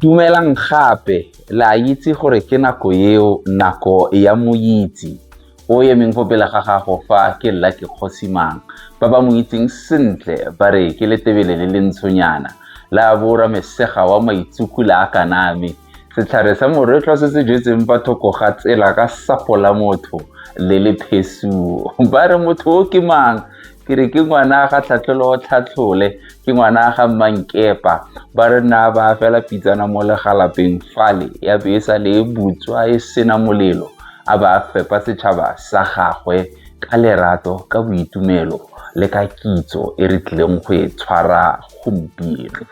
Dumelang gape le a itse gore ke nako eo nako ya moitse o emeng fo pele ga gago fa ke lla ke kgosimang ba ba mo itseng sentle ba re ke letebele le le ntshonyana la bora mesega wa maitsukula a kaname Setlhare sa moretlwa se se jetseng fa thoko ga tsela ka sapo la motho le le phesuo. Ba re motho o ke mang? ke re ke ngwana ga tlhatlholo tlhatlhole ke ngwana ga mmankepa ba re na ba fela pitsana mo legalapeng fale ya be e sa le e butswa e sena molelo a ba fepa setšhaba sa gagwe ka lerato ka boitumelo le ka kitso e re tlileng go e tshwara gompieno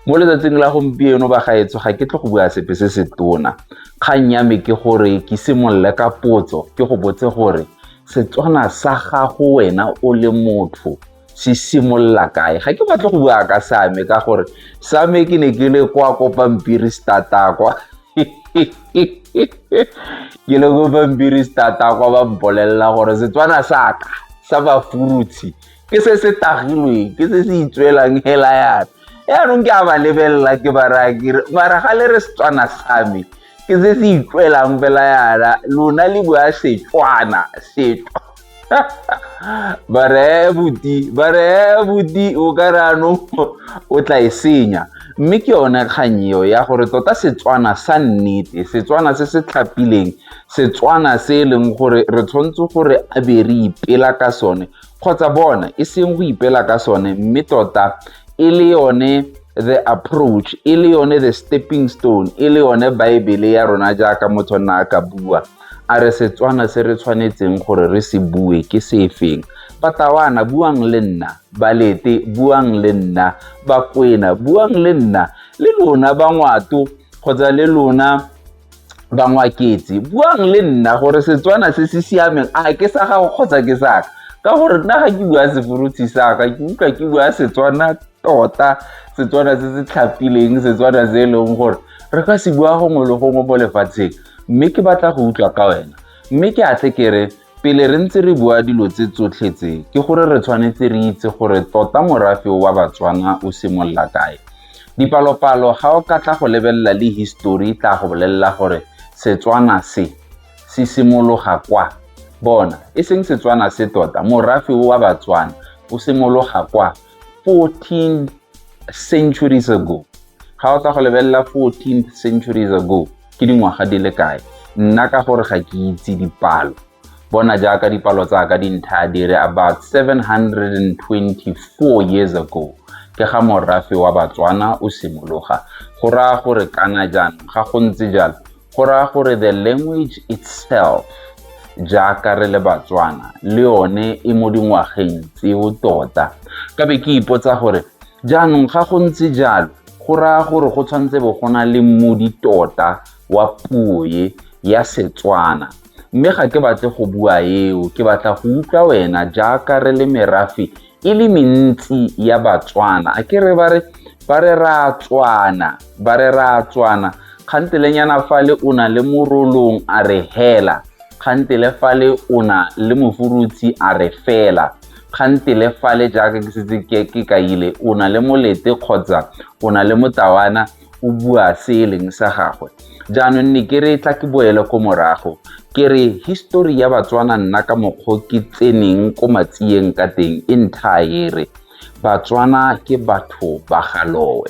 mo letsatsing la gompieno ba gaetsho ga ke tle go bua sepe se se tona kgang ya me ke gore ke simolole ka potso ke go botse gore setswana sa gago wena o le motho se simolola kae ga ke batle go bua ka same ka gore same ke ne ke le kwa ko pampiri stata kwa ke le ko pampiri stata kwa ba mpolelela gore setswana sa ka sa bafurutshi ke se se tagilweng ke se se itswelang hela yana yaanong ke a ba lebelela ke ba raya kere mara ga le re setswana sa me ke se se itswelang fela yana lona le bua setswana setwa ba reye buti ba reye buti o ka re anong o tla e senya mme ke yone kgang eo ya gore tota setswana sa nnete setswana se se tlhapileng setswana se e leng gore re tshwanetse gore a be re ipela ka sone kgotsa bona e seng go ipela ka sone mme tota e le yone the approach e le yone the stepping stone e le yone baebele ya rona jaaka motho nna a ka bua a re setswana se re tshwanetseng gore re se bue ke sefeng batawana buang le nna balete buang le nna bakwena buang le nna le lona ba ngwato kgotsa le lona bangwaketse buang le nna gore setswana se se siameng a ke sa gago kgotsa ke saka ka gore nna ga ke bua seforutshe saka ke utlwa ke bua setswana tota setswana se se tlhapileng setswana se e leng gore re ka se bua gongwe le gongwe mo lefatsheng mme ke batla go utlwa ka wena mme ke a tle ke re Pele re ntse re bua dilo tse tsotlhe tse, ke gore re tshwanetse re itse gore tota morafe wa Batswana o simolola kae. Dipalopalo ga o ka tla go lebelela le history tla go bolelela gore Setswana se se simologa kwa. Bona, e seng Setswana se tota, morafe wa Batswana o simologa kwa. 14 centuries ago ga o tla go lebelela 14 centuries ago ke dingwaga di le kae nna ka gore ga ke itse dipalo bona jaaka dipalo tsa ka dintha di re about 724 years ago ke ga morafe wa batswana o simologa go raya gore kana jaanong ga go ntse jalo go raya gore the language itself jaaka re le batswana le yone e mo dingwageng tseo tota ka be ke ipotsa gore jaanong ga go ntse jalo go raya gore go tshwanetse bo go na le mmodi tota wa puo e ya setswana mme ga ke batle go bua eo ke batla go utlwa wena jaaka re le merafe e le mentsi ya batswana a ke re ba re ba re ratswana ba re ratswana kgantelenyana fale o na le morolong a re hela kgantele fale o na le mofurutshi a re fela kgantele fale jaaka ke setse ke kaile o na le molete kgotsa o na le motawana o bua se e leng sa gagwe jaanong ne ke re tla ke boele ko morago ke re histori ya batswana nna ka mokgwa ke tseneng ko matsiyeng ka teng e nthaere batswana ke batho ba galowe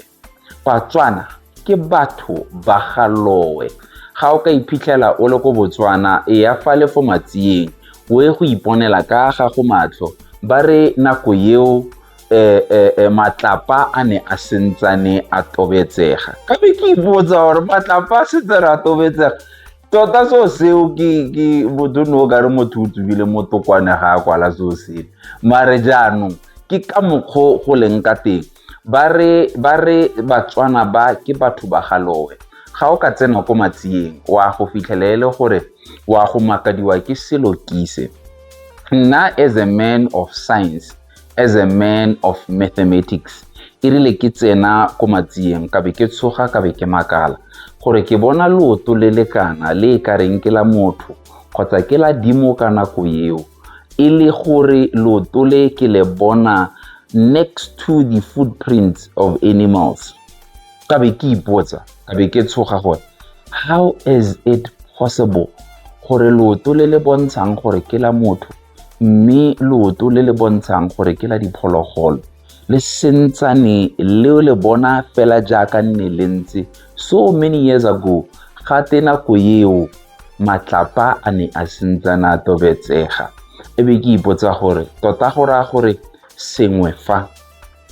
batswana ke batho ba galowe ga o ka iphitlhela o le ko botswana e ya fa le fo matsiyeng o e go iponela ka ga go matlho ba re nako eo eh, eh, eh, matlapa a ne a sentsane a tobetsega ka be ke ipotsa gore matlapa a setse re a tobetsega tota seo seo ke motho ne o ka re motho o tsubile motokwane ga a kwala seo sele mare jaanong ke ka mokgwa go leng ka teng ba re batswana ba ke batho ba galowe ga o ka tsena ko matsiyeng wa go fitlhela e le gore wa go makadiwa ke selo kise nna as a man of science as a man of mathematics e rile ke tsena ko matsieng ka be ke tshoga ka be ke makala gore ke bona leoto le lekana le e ka reng ke la motho kgotsa ke la dimo ka nako eo e le gore leoto le ke le bona next to the footprints of animals ka be ke ipotsa ka be ke tshoga gore how is it possible gore leoto le le bontshang gore ke la motho mme leoto le le bontshang gore ke la diphologolo le sentsane le le bona fela jaaka nne le ntse so many years ago ga te nako eo matlapa a ne a sentsana a tobetsega e be ke ipotsa gore tota go raya gore sengwe fa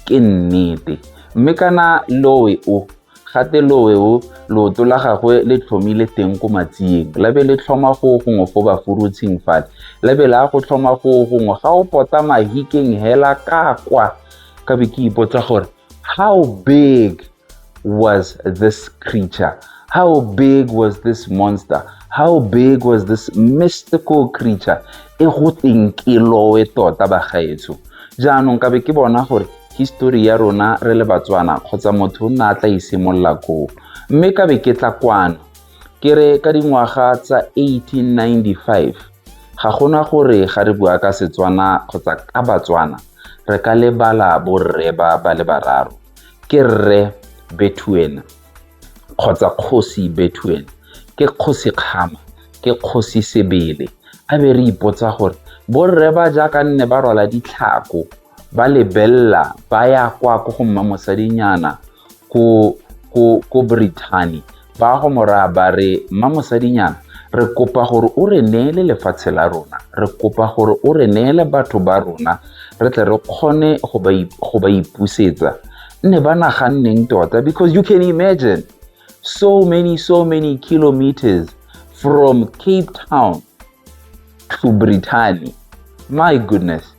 ke nnete mme kana loe o Gate loweo, looto la gagwe le tlhomile teng ko matsieng, la be le tlhoma go gongwe fo bafurutshing fale, la be la go tlhoma go gongwe ga o pota mahikeng hela ka kwa. Ka be ke ipotsa gore how big was this creature? How big was this monster? How big was this mystical creature? E go teng ke lowe tota bagaetsho. Jaanong ka be ke bona gore history ya rona re le batswana kgotsa motho o nna a tla isimolola koo mme ka be ke tla kwano ke re ka dingwaga tsa 1895 ga gona gore ga re bua ka setswana kgotsa ka batswana re ka lebala borre ba ba le bararo ke rre bethuena kgotsa kgosi bethuena ke kgosi kgama ke kgosi sebele a be re ipotsa gore borre ba jaaka nne ba rwala ditlhako ba lebelela ba ya kwa ko go mma mosadinyana ko ko ko Brittany ba go moraya ba re mma mosadinyana re kopa gore o re neele lefatshe la rona re kopa gore o re neele batho ba rona re tle re kgone go ba ipusetsa nne ba naganneng tota because you can imagine so many so many kilometers from cape town to brittany my goodness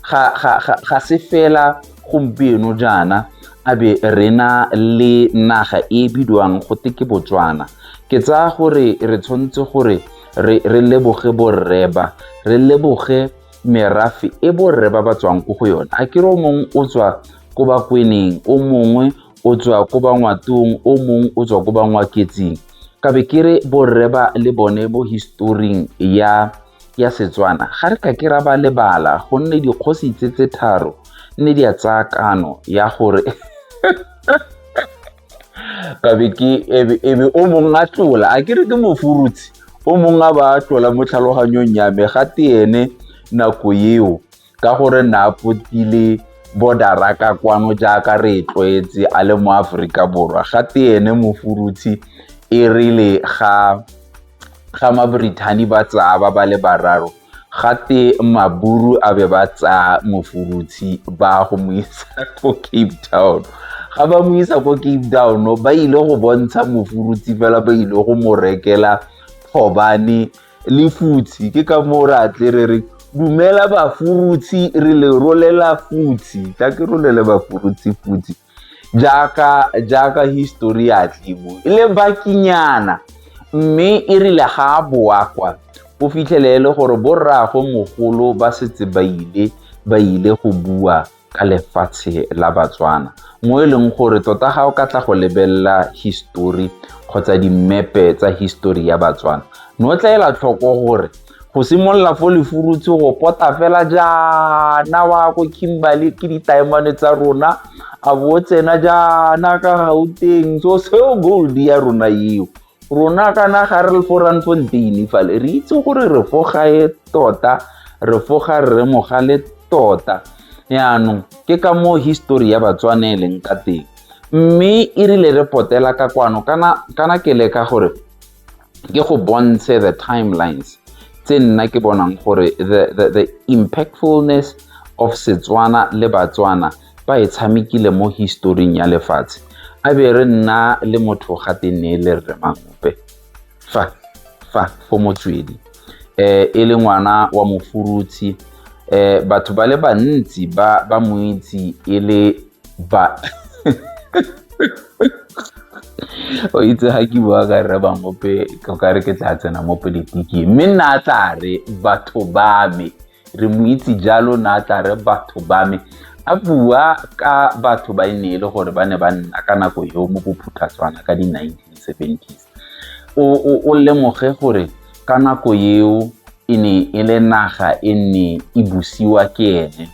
ga, ga, ga, ga se fela gompieno jaana a be re na le naga e bidiwang go te ke botswana ke tsaya gore re tshwanetse gore re, re leboge borreba re leboge merafe e borre ba ba tswang ko go yone a kere o mongwe o tswa ko bakweneng o mongwe o tswa ko bangwatong o mong o tswa ko bangwaketsing ka be ke re borre ba le bone mo historing ya ya setswana ga re ka ke ra ba lebala gonne dikgosi tse tse tharo nne di a tsaya kano ya gore kabe ke ebe o mongwe a tlola a kere ke mofurutsi o mongwe a ba tlola mo tlhaloganyong ya me ga te ene nako eo ka gore ne a potile bodara ka kwano jaaka re e tlwaetse a le mo aforika borwa ga te ene mofurutshi e rile ga ga mabrithani ba tsaya ba ba le bararo ga te maburu a be ba tsaya mofurutshi ba go mo isa ko cape town ga ba mo isa ko cape town ba ile go bontsha mofurutshi fela ba ile go mo rekela thobane Lefutshi ke ka moo re atle re re dumela bafurutshi re le rolela futshi tla ke rolele bafurutshi futshi jaaka jaaka history ya tlebo e le bakinyana mme e rile ga a boa kwa o fitlhele e le gore borraagwe mogolo ba setse ba ile ba ile go bua ka lefatshe la Batswana mo e leng gore tota ga o ka tla go lebelela history kgotsa dimepe tsa history ya Batswana ne o tla ela tlhoko gore go simolola fo lefurutse go pota fela jaana wa ko kimberley ke ditaemane tsa rona a bo o tsena jaana ka gauteng so seo gold ya rona eo rona kana ga re le fo rantsontini fale re itse gore re fo gae tota re fo ga rre mogale tota yaanong ke ka moo histori ya batswane e leng ka teng mme e rile re potela ka kwano kana ke le ka gore ke go bontshe the timelines tse nna ke bonang gore the impactfulness of setswana le batswana ba e tshamekile mo historing ya lefatshe a be re nna le motho ga te ne le rre mangope fa fa fo motswedi um e le ngwana wa mofurutshi um batho ba le bantsi ba ba mo itse e le ba o itse ga ke bua ka rre bangope ka re ke tla tsena mo politiking mme nna a tla re batho ba me re mo itse jalo na tla re batho ba me a bua ka batho ba e ne e le gore ba ne ba nna ka nako eo mo bophuthatswana ka di-1970s o lemoge gore ka nako eo e ne e le naga e ne e busiwa ke ene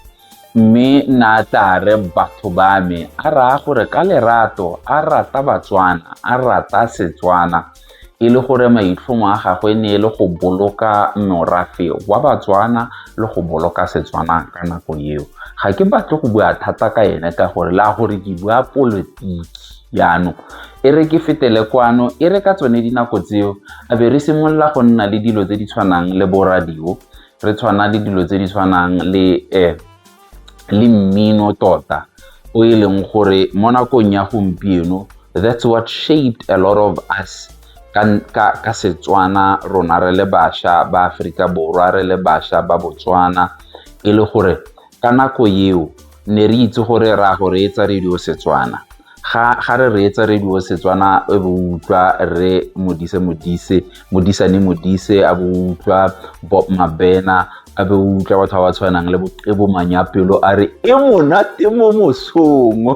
mme na tla re batho ba me a raya gore ka lerato a rata batswana a rata setswana e le gore maitlhomo a gagwe ne e le go boloka morafe wa batswana le go boloka setswana ka nako eo ga ke batle go bua thata ka ene ka gore le a gore ke bua polotiki jaanong e re ke fetele kwano e re ka tsone dinako tseo a be re simolola go nna le dilo tse di tshwanang le boradio re tshwana le dilo tse di tshwanang le um le mmino tota o e leng gore mo nakong ya gompieno that's what shaped a lot of us ka, ka, ka setswana rona re le basha ba aforika borwa re le basha ba botswana e le gore ka nako eo ne re itse gore ra go reetsa radio setswana ga ga re reetse radio setswana e bo utlwa re modise modise modisane modise a bo utlwa bob mabena a be utlwa batho ba ba tshwanang le boqebo manyapelo a re e monate mo mosong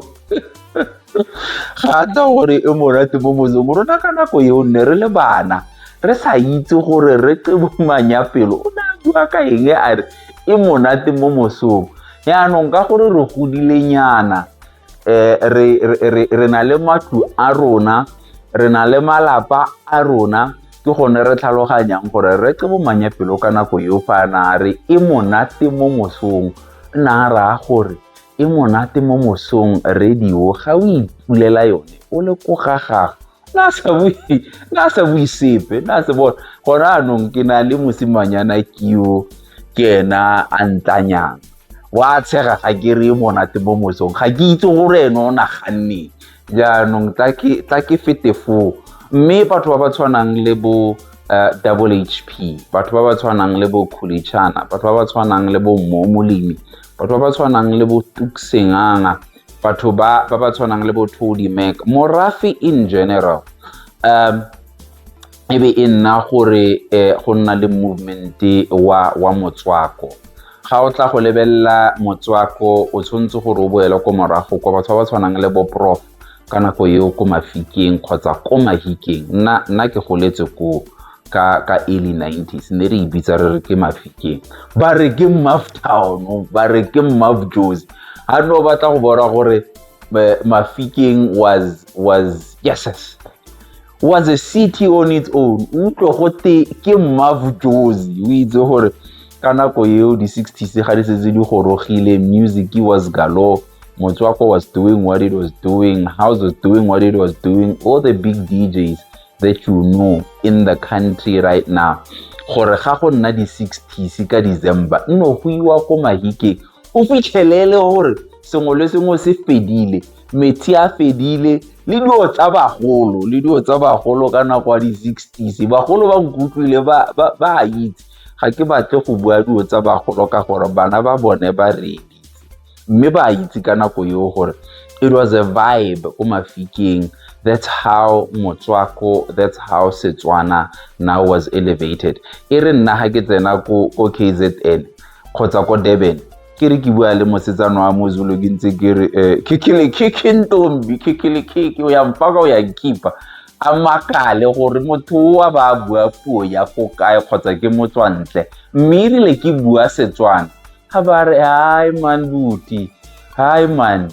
ga ta gore e monate mo mosong rona ka nako eo nne re le bana re sa itse gore re qebo manyapelo o ne a bua ka eng a re e monate mo mosong yaanong ka gore re godile nyana eh, re, re, re, re na le matlu a rona re na le malapa a rona ke gone re tlhaloganyang gore re ke bomanya pelo ka nako eo fa na re e monate mo mosong nna raya gore e monate mo mosong radio ga o ipulela yone o le ko ga gago na sa bue na sa bue sepe na se bona gone anong ke na le mosimanyana keo ke ena a ntlanyang wa tshega ga ke re monate mo mosong ga ke itse gore ene o naganne jaanong tla ke fete foo mme batho ba ba tshwanang le bo eh, double h p batho ba ba tshwanang le bo khulichana batho ba ba tshwanang le bo mmomolemi batho ba ba tshwanang le bo tuksenganga batho ba ba ba tshwanang le botho di mac morafe in general um e be e nna gore eh, go nna le movement wa wa motswako ga o tla go lebelela motswako o tshwanetse gore o boele ko morago kwa batho ba ba tshwanang le bo prof ka nako eo ko mafikeng kgotsa ko mahikeng nna nna ke goletse koo ka ka early 90s ne re e bitsa re re ke mafikeng ba re ke maftown ba re ke mafjosi ha no batla go bona gore eh, mafikeng was was yes was a city on its own utlwe go te ke mmavujozi o itse gore ka nako eo di-sixties ga di setse di gorogile music was galore motswako was doing what it was doing house was doing what it was doing all the big djs that you know in the country right now gore ga go nna di-sixties ka december nno go iwa ko mahikeng o fitlhelele gore sengwe le sengwe se fedile metsi a fedile le dilo tsa bagolo le dilo tsa bagolo ka nako ya di-sixties bagolo ba nkutlwile ba a itse ga ke batle go bua dilo tsa bagolo ka gore bana ba bone ba reditse mme ba itse ka nako eo gore it was a vibe ko mafikeng that's how motswako that's how setswana now was elevated e re nna ga ke tsena ko kzn kgotsa ko durban ke re ke bua le mosetsana wa mozulu ke ntse ke re um khikhilekhikhi ntombi khikhilekhikhi o ya mfaka o ya nkipa a makale gore motho oa ba a bua puo ya ko kae kgotsa ke motswantle mme erile ke bua setswana ga ba re hai man buti hai man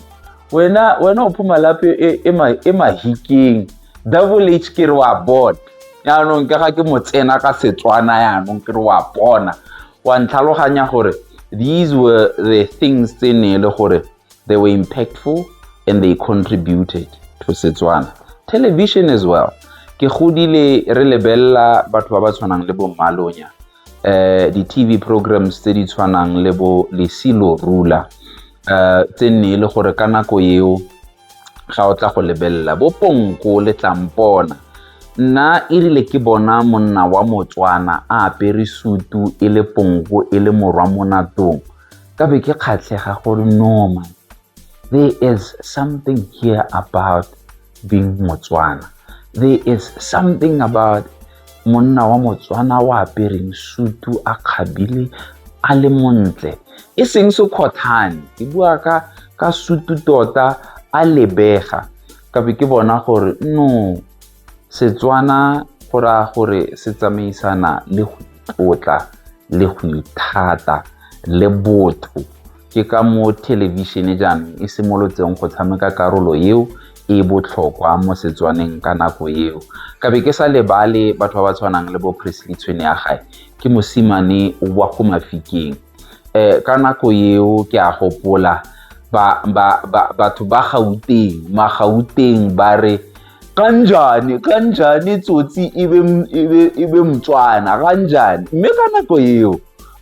wena wena o phoma lape e, e, e mahikeng double h ke re wa bona yaanong ke ga ke mo tsena ka setswana yaanong ke re wa bona wa ntlhaloganya gore these were the things tse ne e le gore they were impactful and they contributed to setswana television as well ke godile re lebelela batho ba ba tshwanang le bo mmalonya um eh, di-tv programs tse di tshwanang le bo lesilo rula um eh, tse nne e le gore ka nako eo ga o tla go lebelela bo ponko le tlampona nna erile ke bona monna wa motswana a apere sutu e le ponko e le morwa mo natong ka be ke kgatlhega gore normal there is something here about being motswana there is something about monna wa motswana o apereng sutu a kgabile a le montle e seng sekgothane ke bua ka ka sutu tota a lebega ka be ke bona gore no setswana go raya gore se tsamaisana le go tlotla le go ithata le botho ke ka mo thelebišene jaanong e simolotseng go tshameka karolo eo e botlhokwa mo Setswaneng ka nako eo ka be ke sa lebale batho ba ba tshwanang le bo Presley tshwene ya gae ke mosimane wa go mafikeng um ka nako eo ke a gopola batho ba gauteng magauteng ba re kanjane kanjane tsotsi e be e motswana kanjane mme ka nako eo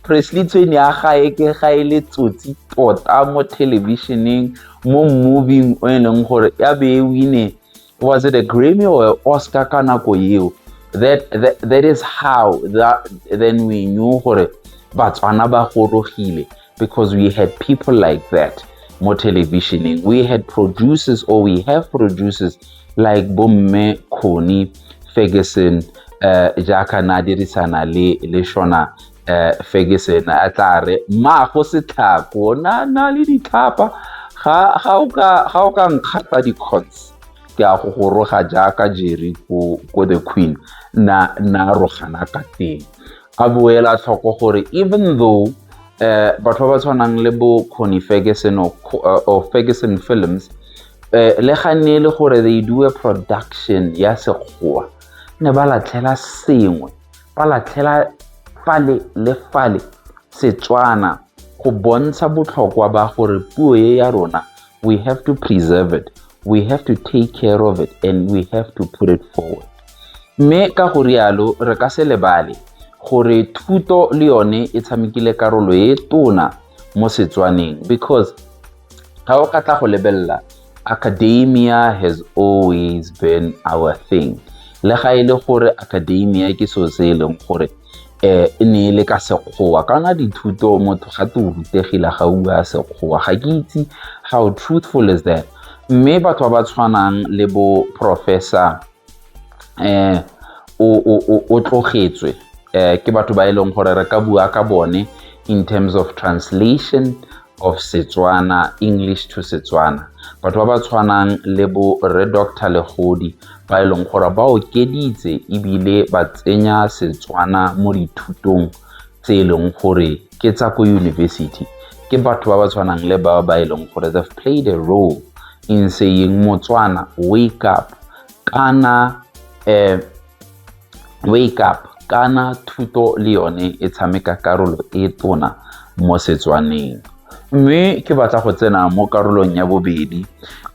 Presley tshwene ya gae ke ga e le tsotsi tota mo thelebišeneng mo moving o e leng gore ya be e wine was it a grammy or oscar ka nako eo that, that, that is how that, then we knew gore batswana ba gorogile because we had people like that mo televisioning we had producers or we have producers like bomme khoni ferguson uh, jaaka na dirisana le le shona eh Ferguson a tla re mma go se tlhako na na le ditlhapa ga ga o ka ga o ka nkgata di cots ke a go goroga jaaka jeri ko ko the queen na na rogana ka teng a boela tlhoko gore even though eh batho ba ba tshwanang le bo Connie Ferguson or, eh, or Ferguson Films eh le ga ne le gore they do a production ya sekgowa ne ba latlhela sengwe ba latlhela fale le fale Setswana go bontsha botlhokwa ba gore puo e ya rona we have to preserve it we have to take care of it and we have to put it forward mme ka go rialo re ka se lebale gore thuto le yone e tshamekile karolo e tona mo setswaneng because ga o ka tla go lebelela academia has always been our thing le ga e le gore academia ke so se e leng gore um e ne e le ka sekgowa kana dithuto motho ga te o rutegile ga ua sekgowa ga ke itse how truthful is that mme batho ba ba tshwanang le bo professor eh o tlogetswe eh ke batho ba e leng gore re ka bua ka bone in terms of translation of Setswana English to Setswana batho ba ba tshwanang le bo Re Dr Legodi ba e leng gore ba okeditse ebile ba tsenya Setswana mo dithutong tse e leng gore ke tsa ko university ke batho ba ba tshwanang le ba ba e leng gore they've played a role in saying motswana wake up kana um wake up kana thuto le yone e tshameka karolo e tona mo setswaneng mme ke batla go tsena mo karolong ya bobedi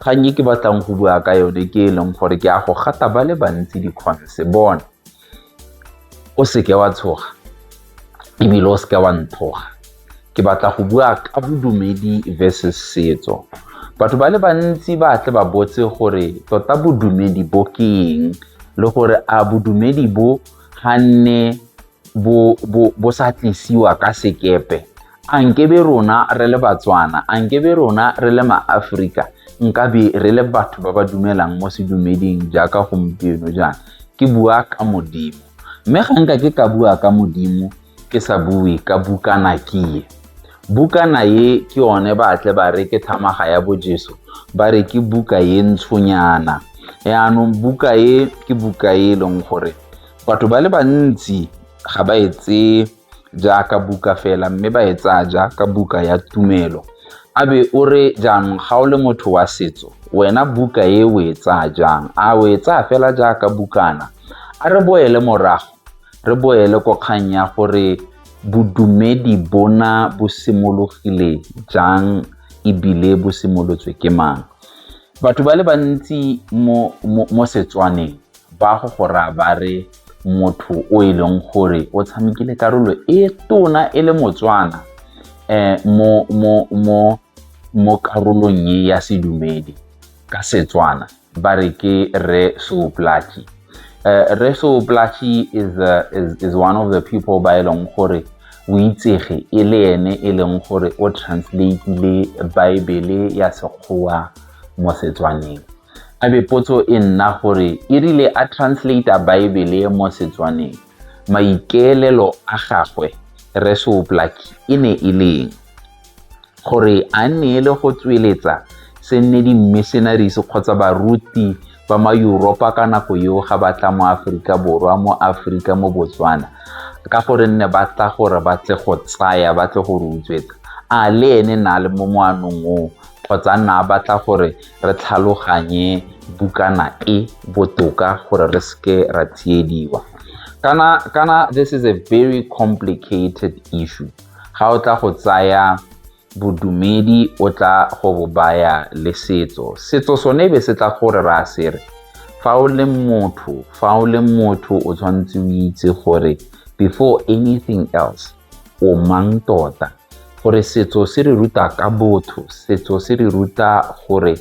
kgang e ke batlang go bua ka yone ke e leng gore ke a go gata ba le bantsi dikgonse bone O seke wa tshoga ebile o seke wa nthoga. Ke batla go bua ka bodumedi versus setso. Batho ba le bantsi ba tle ba botse gore tota bodumedi bo ke eng le gore a bodumedi bo ga nne bo sa tlisiwa ka sekepe. A nkebe rona re le Batswana, a nkebe rona re le maAforika nkabe re le batho ba ba dumelang mo sedumeding jaaka gompieno jaana? Ke bua ka Modimo. Mme ga nka ke ka bua ka Modimo ke sa bue ka bukana kie. Bukana ye ke yone ba tle ba re ke thamaga ya bojeso, ba re ke buka ye ntshonyana. Yaanong buka ye ke buka ye e leng gore batho ba le bantsi ga ba e tseye jaaka buka fela mme ba e tsaya jaaka buka ya tumelo a be o re jaanong ga o le motho wa setso wena buka e o e tsaya jang a o e tsaya fela jaaka bukana a re boele morago re boele ko kgang ya gore bodumedi bona bo simologile jang ebile bo simolotswe ke mang batho ba le bantsi mo setswaneng Ba go go raya ba re motho o e leng gore o tshamekile karolo e tona e le motswana um mo, mo, mo, mo karolong e ya sedumedi ka setswana ba re ke re sooplatši uh, re sooplatši is, uh, is, is one of the people ba e leng gore o itsege e le ene e leng gore o translateile baebele ya sekgowa mo setswaneng a be potso e nna gore e rile a translate-a baebele mo setswaneng maikeelelo a gagwe resoplaki e ne e leng gore a nne le go tsweletsa se nne di-missionaries kgotsa baruti ba ma Europa ka nako eo ga ba tla mo Aforika Borwa mo Aforika mo Botswana ka gore nne ba tla gore ba tle go tsaya ba tle go re utswetsa a le ene na le mo moanong oo kgotsa nna a batla gore re tlhaloganye bukana e botoka gore re seke ra tsiediwa kana kana this is a very complicated issue ga o tla go tsaya bodumedi o tla go bo baya le setso setso sone be se tla gore ra se re fa o le motho fa o le motho o tshwanetse o itse gore before anything else o mang tota gore setso se re ruta ka botho setso se re ruta gore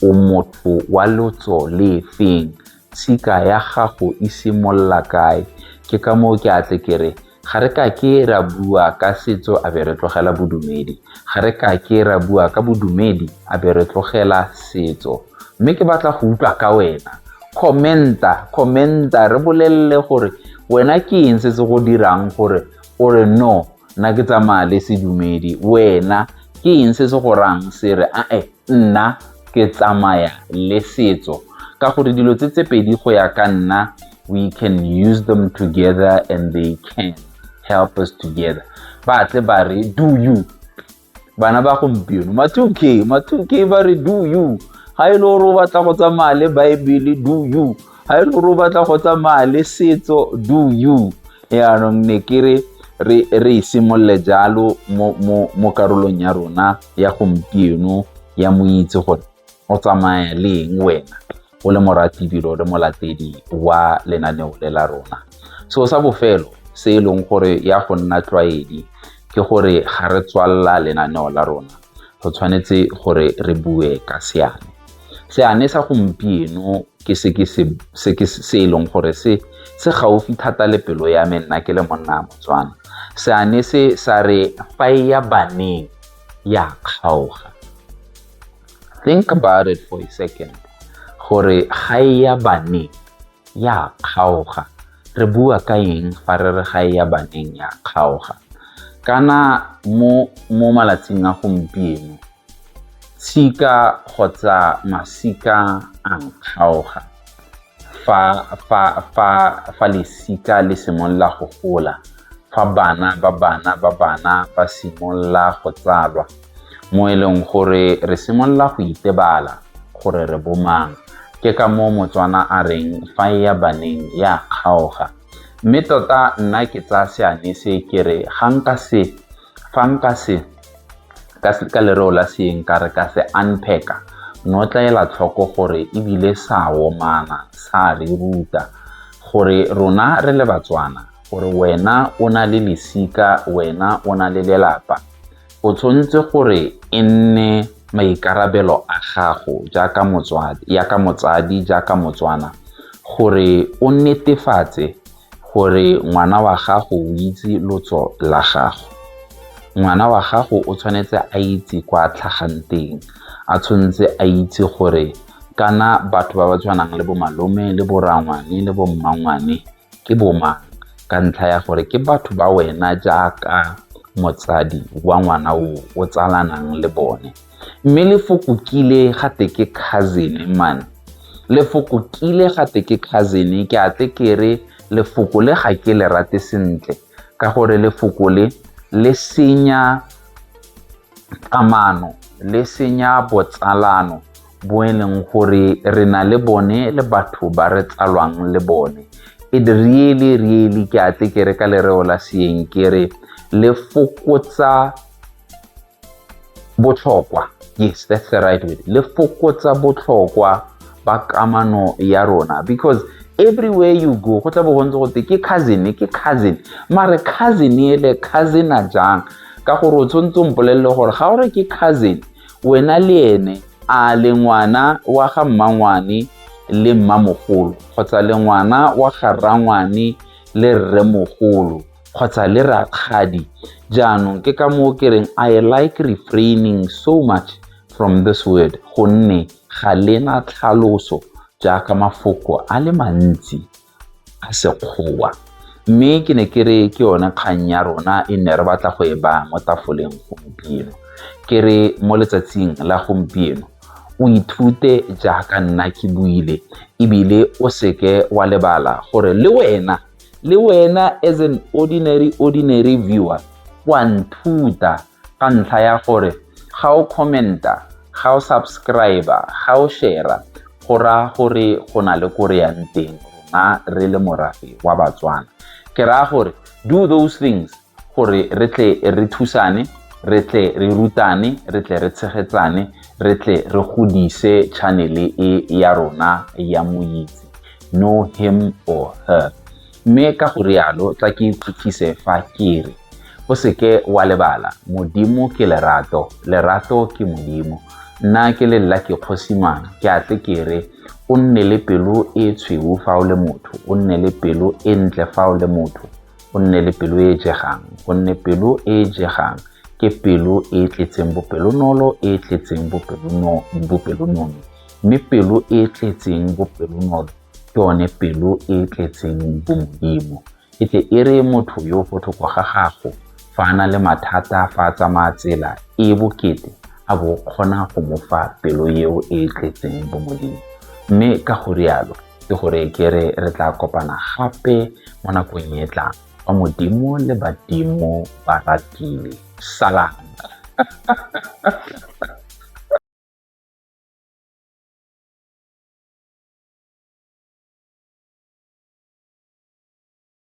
o motho wa lotso le feng tshika ya gago e simolola kae ke ka moo ke atle ke re ga re ka ke ra bua ka setso a be re tlogela bodumedi ga re ka ke ra bua ka bodumedi a be re tlogela setso mme ke batla go utlwa ka wena commenta commenta re bolelele gore wena ke eng se se go dirang gore o re no nna ke tsamaya le sedumedi wena ke eng se se go rang se re ae nna ke tsamaya le setso ka gore dilo tse tse pedi go ya ka nna we can use them together and they can help us together ba tle ba re do you bana ba gompieno ma 2k ma 2k ba re do you ga e le gore o batla go tsamaya le baebele do you ga e le gore o batla go tsamaya le setso do you yaanong ne ke re re re simolole jalo mo mo mo karolong ya rona ya gompieno ya moitse gore O tsamaya le eng wena? O le moratibilo le molatedi wa lenaneo le la rona. Seo sa bofelo se e leng gore ya go nna tlwaedi ke gore ga re tswalela lenaneo la rona re tshwanetse gore re bue ka seane seane sa gompieno ke se ke se se ke se e leng gore se se gaufi thata le pelo ya me nna ke le monna a motswana seane se sa re fa ya baneng ya kgaoga think about it for a second gore ga e ya baneng ya kgaoga re bua ka eng fa re re ga e ya baneng ya kgaoga kana mo mo malatsing a gompieno tshika kgotsa masika a nkgaoga fa fa fa fa lesika le simolola go gola fa bana ba bana ba bana ba simolola go tsalwa mo e leng gore re simolola go itebala gore re bomang ke ka moo motswana a reng fa e ya baneng ya kgaoga mme tota nna ke tsaya seane se ke re ga nka se fa nka se ka lereo la seeng ka re ka se unpack no tlaela tlhoko gore ebile sa womana sa re ruta gore rona re le batswana gore wena o na le lesika wena o na le lelapa o tshwanetse gore e nne maikarabelo a gago jaaka motswadi yaka motsadi jaaka motswana gore o netefatse gore ngwana wa gago o itse lotso la gago ngwana wa gago o tshwanetse a itse kwa tlhagang teng a tshwanetse a itse gore kana batho ba ba tshwanang le bo malome le bo rangwane le bo mmangwane ke boma ka ntlha ya gore ke batho ba wena jaaka motsadi wa ngwana o o tsalanang le bone mme lefoko kile ga te ke cousin man lefoko kile ga te ke cousin ke a tle ke re lefoko le ga ke le rate sentle ka gore lefoko le le senya kamano le senya botsalano bo e leng gore re na le bone le batho ba re tsalwang le bone it really really ke a tle ke re ka lereo la seeng ke re le fokotsa Botlhokwa, yes, that's the right word. Le fokotsa botlhokwa ba kamano ya rona because everywhere you go go tla bo go ntse go te ke cousin ke cousin mare cousin ele cousin a jang ka gore o tshwanetse o mpolelele gore ga o re ke cousin wena le ene a le ngwana wa ga mmangwane le mmamogolo kgotsa le ngwana wa ga rrangwane le rremogolo kgotsa le rakgadi jaanong ke ka moo ke reng i like refraining so much from this word gonne ga lena tlhaloso jaaka mafoko a le mantsi a sekgowa mme ke ne ke re ke yone kgang ya rona e ne re batla go e ba mo tafoleng gompieno ke re mo letsatsing la gompieno o ithute jaaka nna ke buile ebile o seke wa lebala gore le wena le wena as an ordinary ordinary viewer wa nthuta ka ntlha ya gore ga o commenta ga o subscriber ga o shera go ra gore go na le kore yang teng rona re le morafe wa batswana ke raya gore do those things gore re tle re thusane re tle re rutane re tle re tshegetsane re tle re godise chanele e ya rona ya moitse no him or her mme ka go rialo tla ke tlhotlhise fa ke re o seke wa lebala modimo ke lerato lerato ke modimo nna ke le lla ke kgosimang ke a tle ke re o nne le pelo e tshweu fa o le motho o nne le pelo e ntle fa o le motho o nne le pelo e e jegang gonne pelo e e jegang ke pelo e e tletseng bopelonolo e e tletseng bopelonone mme pelo e e tletseng bopelonolo ke yone pelo e e tletseng bomodimo e tle e re motho yo botlhoko ga gago fa a na le mathata fa a tsamaya tsela e bokete a bo kgona go mo fa pelo eo e e tletseng bomodimo mme ka go rialo ke gore ke re re tla kopana gape mo nakong e tlang fa modimo le badimo ba ratile salang